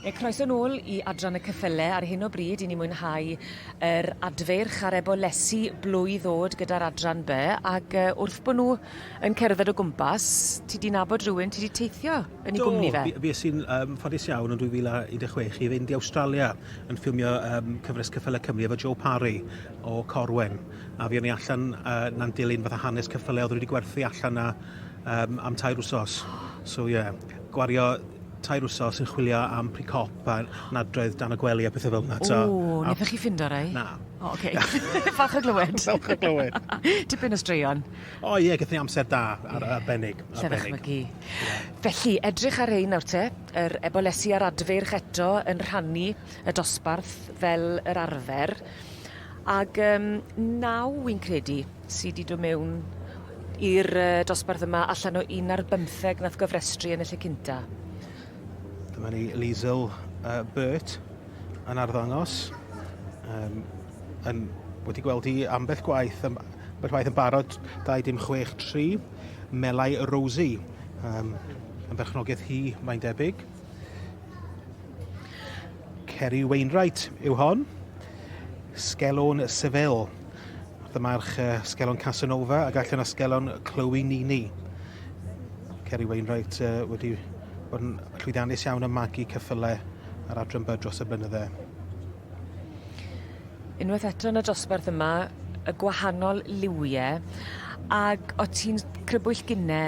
Ie, croeso nôl i Adran y Cyffyle. Ar hyn o bryd, i ni mwynhau yr adfeirch ar ebolesu blwydd oed gyda'r Adran By, ac uh, wrth bod nhw yn cerdded o gwmpas, ti di nabod rhywun, ti di teithio yn ei gwmni fe? Do, fi sy'n um, ffodus iawn yn 2016 i fynd i Australia yn ffilmio um, cyfres Cyffyle Cymru efo Joe Parry o Corwen. a fuon ni allan uh, na'n dilyn fatha hanes cyffyle oedd wedi gwerthu allan na um, am tair wsos. So ie, yeah, gwario tair wsos yn chwilio am pre-cop a nadroedd dan y gwely a pethau fel yna. O, wnaethoch chi ffindo rai? Na. O, oh, oce. Okay. Falch o glywed. Falch o glywed. Tipyn o straeon. O ie, gyda amser da, ar, yeah. arbennig. arbennig. Mygu. Yeah. Felly, edrych ar ein nawr te, yr ebolesi a'r adfeirch eto yn rhannu y dosbarth fel yr arfer. Ag yym naw wi'n credu sy 'di do' mewn i'r yy dosbarth yma allan o un ar bymtheg nath gofrestru yn y lle cynta. Dyma ni Liesl uh, Burt yn arddangos. Um, yn, wedi gweld hi ambell gwaith, am, ambell waith yn barod 263, Melai Rosie. Um, yn berchnogaeth hi, mae'n debyg. Ceri Wainwright yw hon. Sgelon Seville. Wrth y march uh, Sgelon Casanova ac allan a Sgelon Chloe Nini. Ceri Wainwright uh, wedi bod yn llwyddiannus iawn yn magu cyffylau ar adran byd dros y blynydde. Unwaith eto yn y dosbarth yma, y gwahanol liwiau, ac o ti'n crybwyll gynne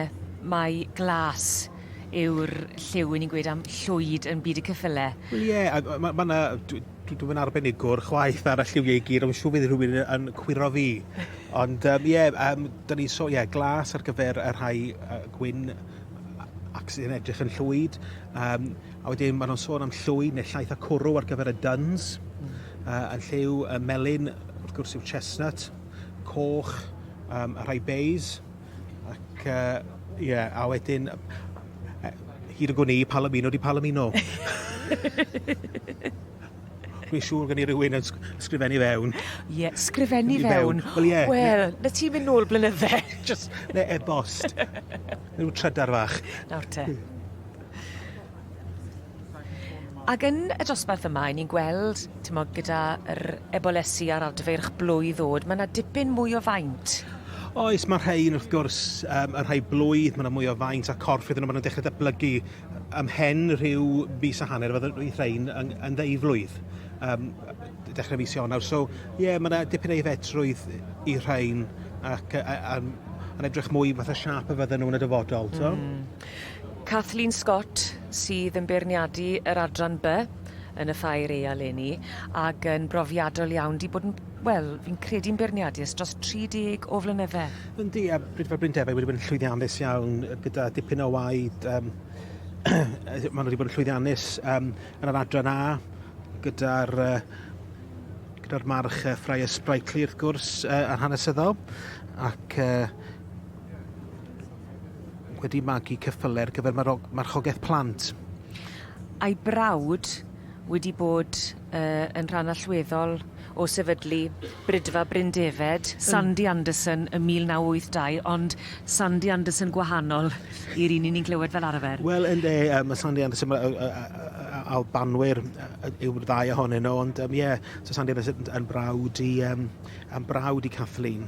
mae glas yw'r lliw, 'yn ni'n gweud am llwyd yn byd y ceffyle. Wel ie, a ma' ma' ma' 'na dwi dwi dwi'm yn arbenigwr chwaith ar y lliwie i gyd ond siŵr fydd rhywun yn cwiro fi. Ond yym ie yym 'dan ni'n so- ie glas ar gyfer y rhai yy gwyn a- ac sy'n edrych yn llwyd yym a wedyn ma' nw'n sôn am llwyd ne' llaeth a cwrw ar gyfer y duns. Hmm. Yy yn lliw y melyn wrth gwrs yw'r chestnut, coch yym y rhai beis. Ac yy ie a wedyn yy hyd y gwn i Palomino di Palomino. Dwi'n siŵr gen i rywun yn sgrifennu fewn. Ie, sgrifennu fewn. Wel ie. Wel, na ti'n mynd nôl blynydde. Jyst ne' e-bost. Ryw trydar fach. Nawr te. Ag yn y dosbarth yma, 'yn ni'n gweld, timod, gyda yr ebolesi a'r adfeirch blwydd o'd, ma' 'na dipyn mwy o faint. Oes, ma' rhein wrth gwrs, um, y rhai blwydd, ma' 'na mwy o faint a corff iddyn nhw, ma' nhw'n dechrau datblygu ym mhen rhyw fis a hanner, fydde roedd rhein yn, yn ddeiflwydd, um, dechrau mis Ionawr. So, ie, yeah, ma' 'na dipyn ei fedrwydd i rhein ac, uh, um, yn edrych mwy fatha siap y fydden nhw'n y dyfodol, t'mo'? Mm. Kathleen Scott sydd yn beirniadu yr adran By yn y Ffair Ea leni ac yn brofiadol iawn, 'di bod yn, wel, fi'n credu'n beirniadu ers dros 30 o flynydde. Yndi, a Brydferth Bryn Defaid wedi bod yn llwyddiannus iawn gyda dipyn o waed yym maen nhw wedi bod yn llwyddiannus um, yn yr adran A gyda'r uh, gyda'r march uh, Freya Sprightly wrth gwrs uh, a'r hanesyddol ac uh, wedi magu ceffylau ar gyfer marchogaeth plant. A'i brawd wedi bod uh, yn rhan allweddol o sefydlu Brydfa Bryn Defed, hmm. Sandy Anderson ym 1982, ond Sandy Anderson gwahanol i'r un ni'n clywed fel arfer. Wel, yn de, um, Sandy Anderson, Albanwyr yw'r ddau ohonyn nhw, ond ie, um, yeah, so Sandy Anderson yn brawd i, um, yn brawd i Kathleen.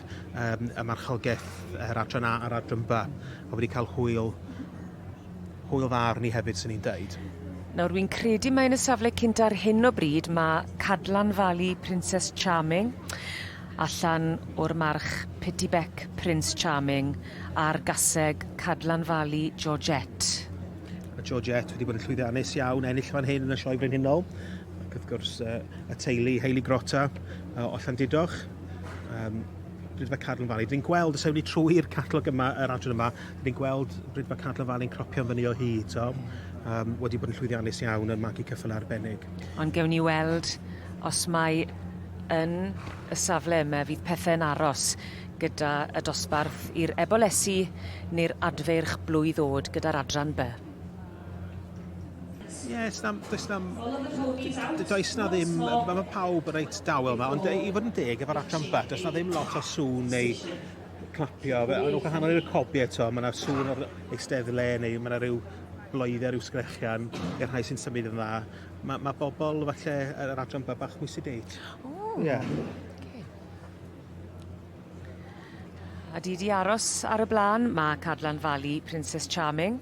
um, y marchogaeth, yr adran A a'r adran B, a wedi cael hwyl, hwyl dda arni hefyd, sy'n ni'n dweud. Nawr, wy'n credu mae'n y safle cynt ar hyn o bryd, mae Cadlan Fali Princess Charming, allan o'r march Petit Bec Prince Charming, a'r gaseg Cadlan Fali Georgette. Mae Georgette wedi bod yn llwyddiannus iawn, ennill fan hyn yn y sioe brenhinol, ac wrth gwrs uh, y teulu Hayley Grotta uh, o Llandidoch. um, Brydfa Cadlan Valley. Dyn ni'n gweld, os ewn ni trwy'r catalog yma, yr adran yma, dyn ni'n gweld Brydfa Cadlan Valley yn cropio'n fyny o hyd, so, um, wedi bod yn llwyddiannus iawn yn magu cyffyl arbennig. Ond gewn ni weld os mae yn y safle yma fydd pethau'n aros gyda y dosbarth i'r ebolesi neu'r adfeirch blwydd oed gyda'r adran by. Ie, yeah, does na, does na, does na ddim, mae ma pawb yn reit dawel yma, ond i fod yn deg efo'r Atram Bet, does na ddim lot o sŵn neu clapio, fe, ond o'ch hanol i'r cobi eto, mae yna sŵn o'r eisteddle neu mae yna rhyw bloedde, rhyw sgrechian i'r rhai sy'n symud yn dda. Mae ma bobl falle yr Atram Bet bach mwy sedate. O! Yeah. Okay. A di di aros ar y blaen, mae Cadlan Fali Princess Charming.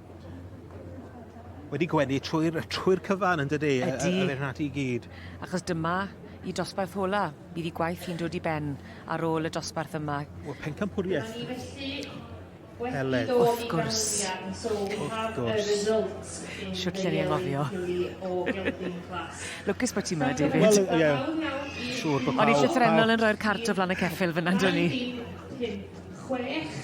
wedi gwenu trwy'r trwy'r cyfan yn dydy? Ydy. Yr hyn ati i gyd. Achos dyma i dosbarth ola. Bydd i gwaith i'n dod i ben ar ôl y dosbarth yma. Wel pencampwriaeth. Ni felly Eled. Wrth gwrs. Wrth gwrs. Siwt lle ni anghofio. Lwcus bod ti yma, David. Wel, ie. Yeah. Siwr bod pawb... O'n i llythrenol yn rhoi'r cart o flan y ceffyl fyna, do'n i? Chwech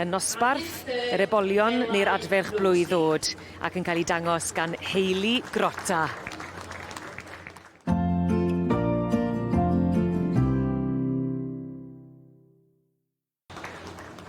Yn nosbarth yr ebolion neu'r adferch blwydd ddod ac yn cael ei dangos gan Hayley Grotta.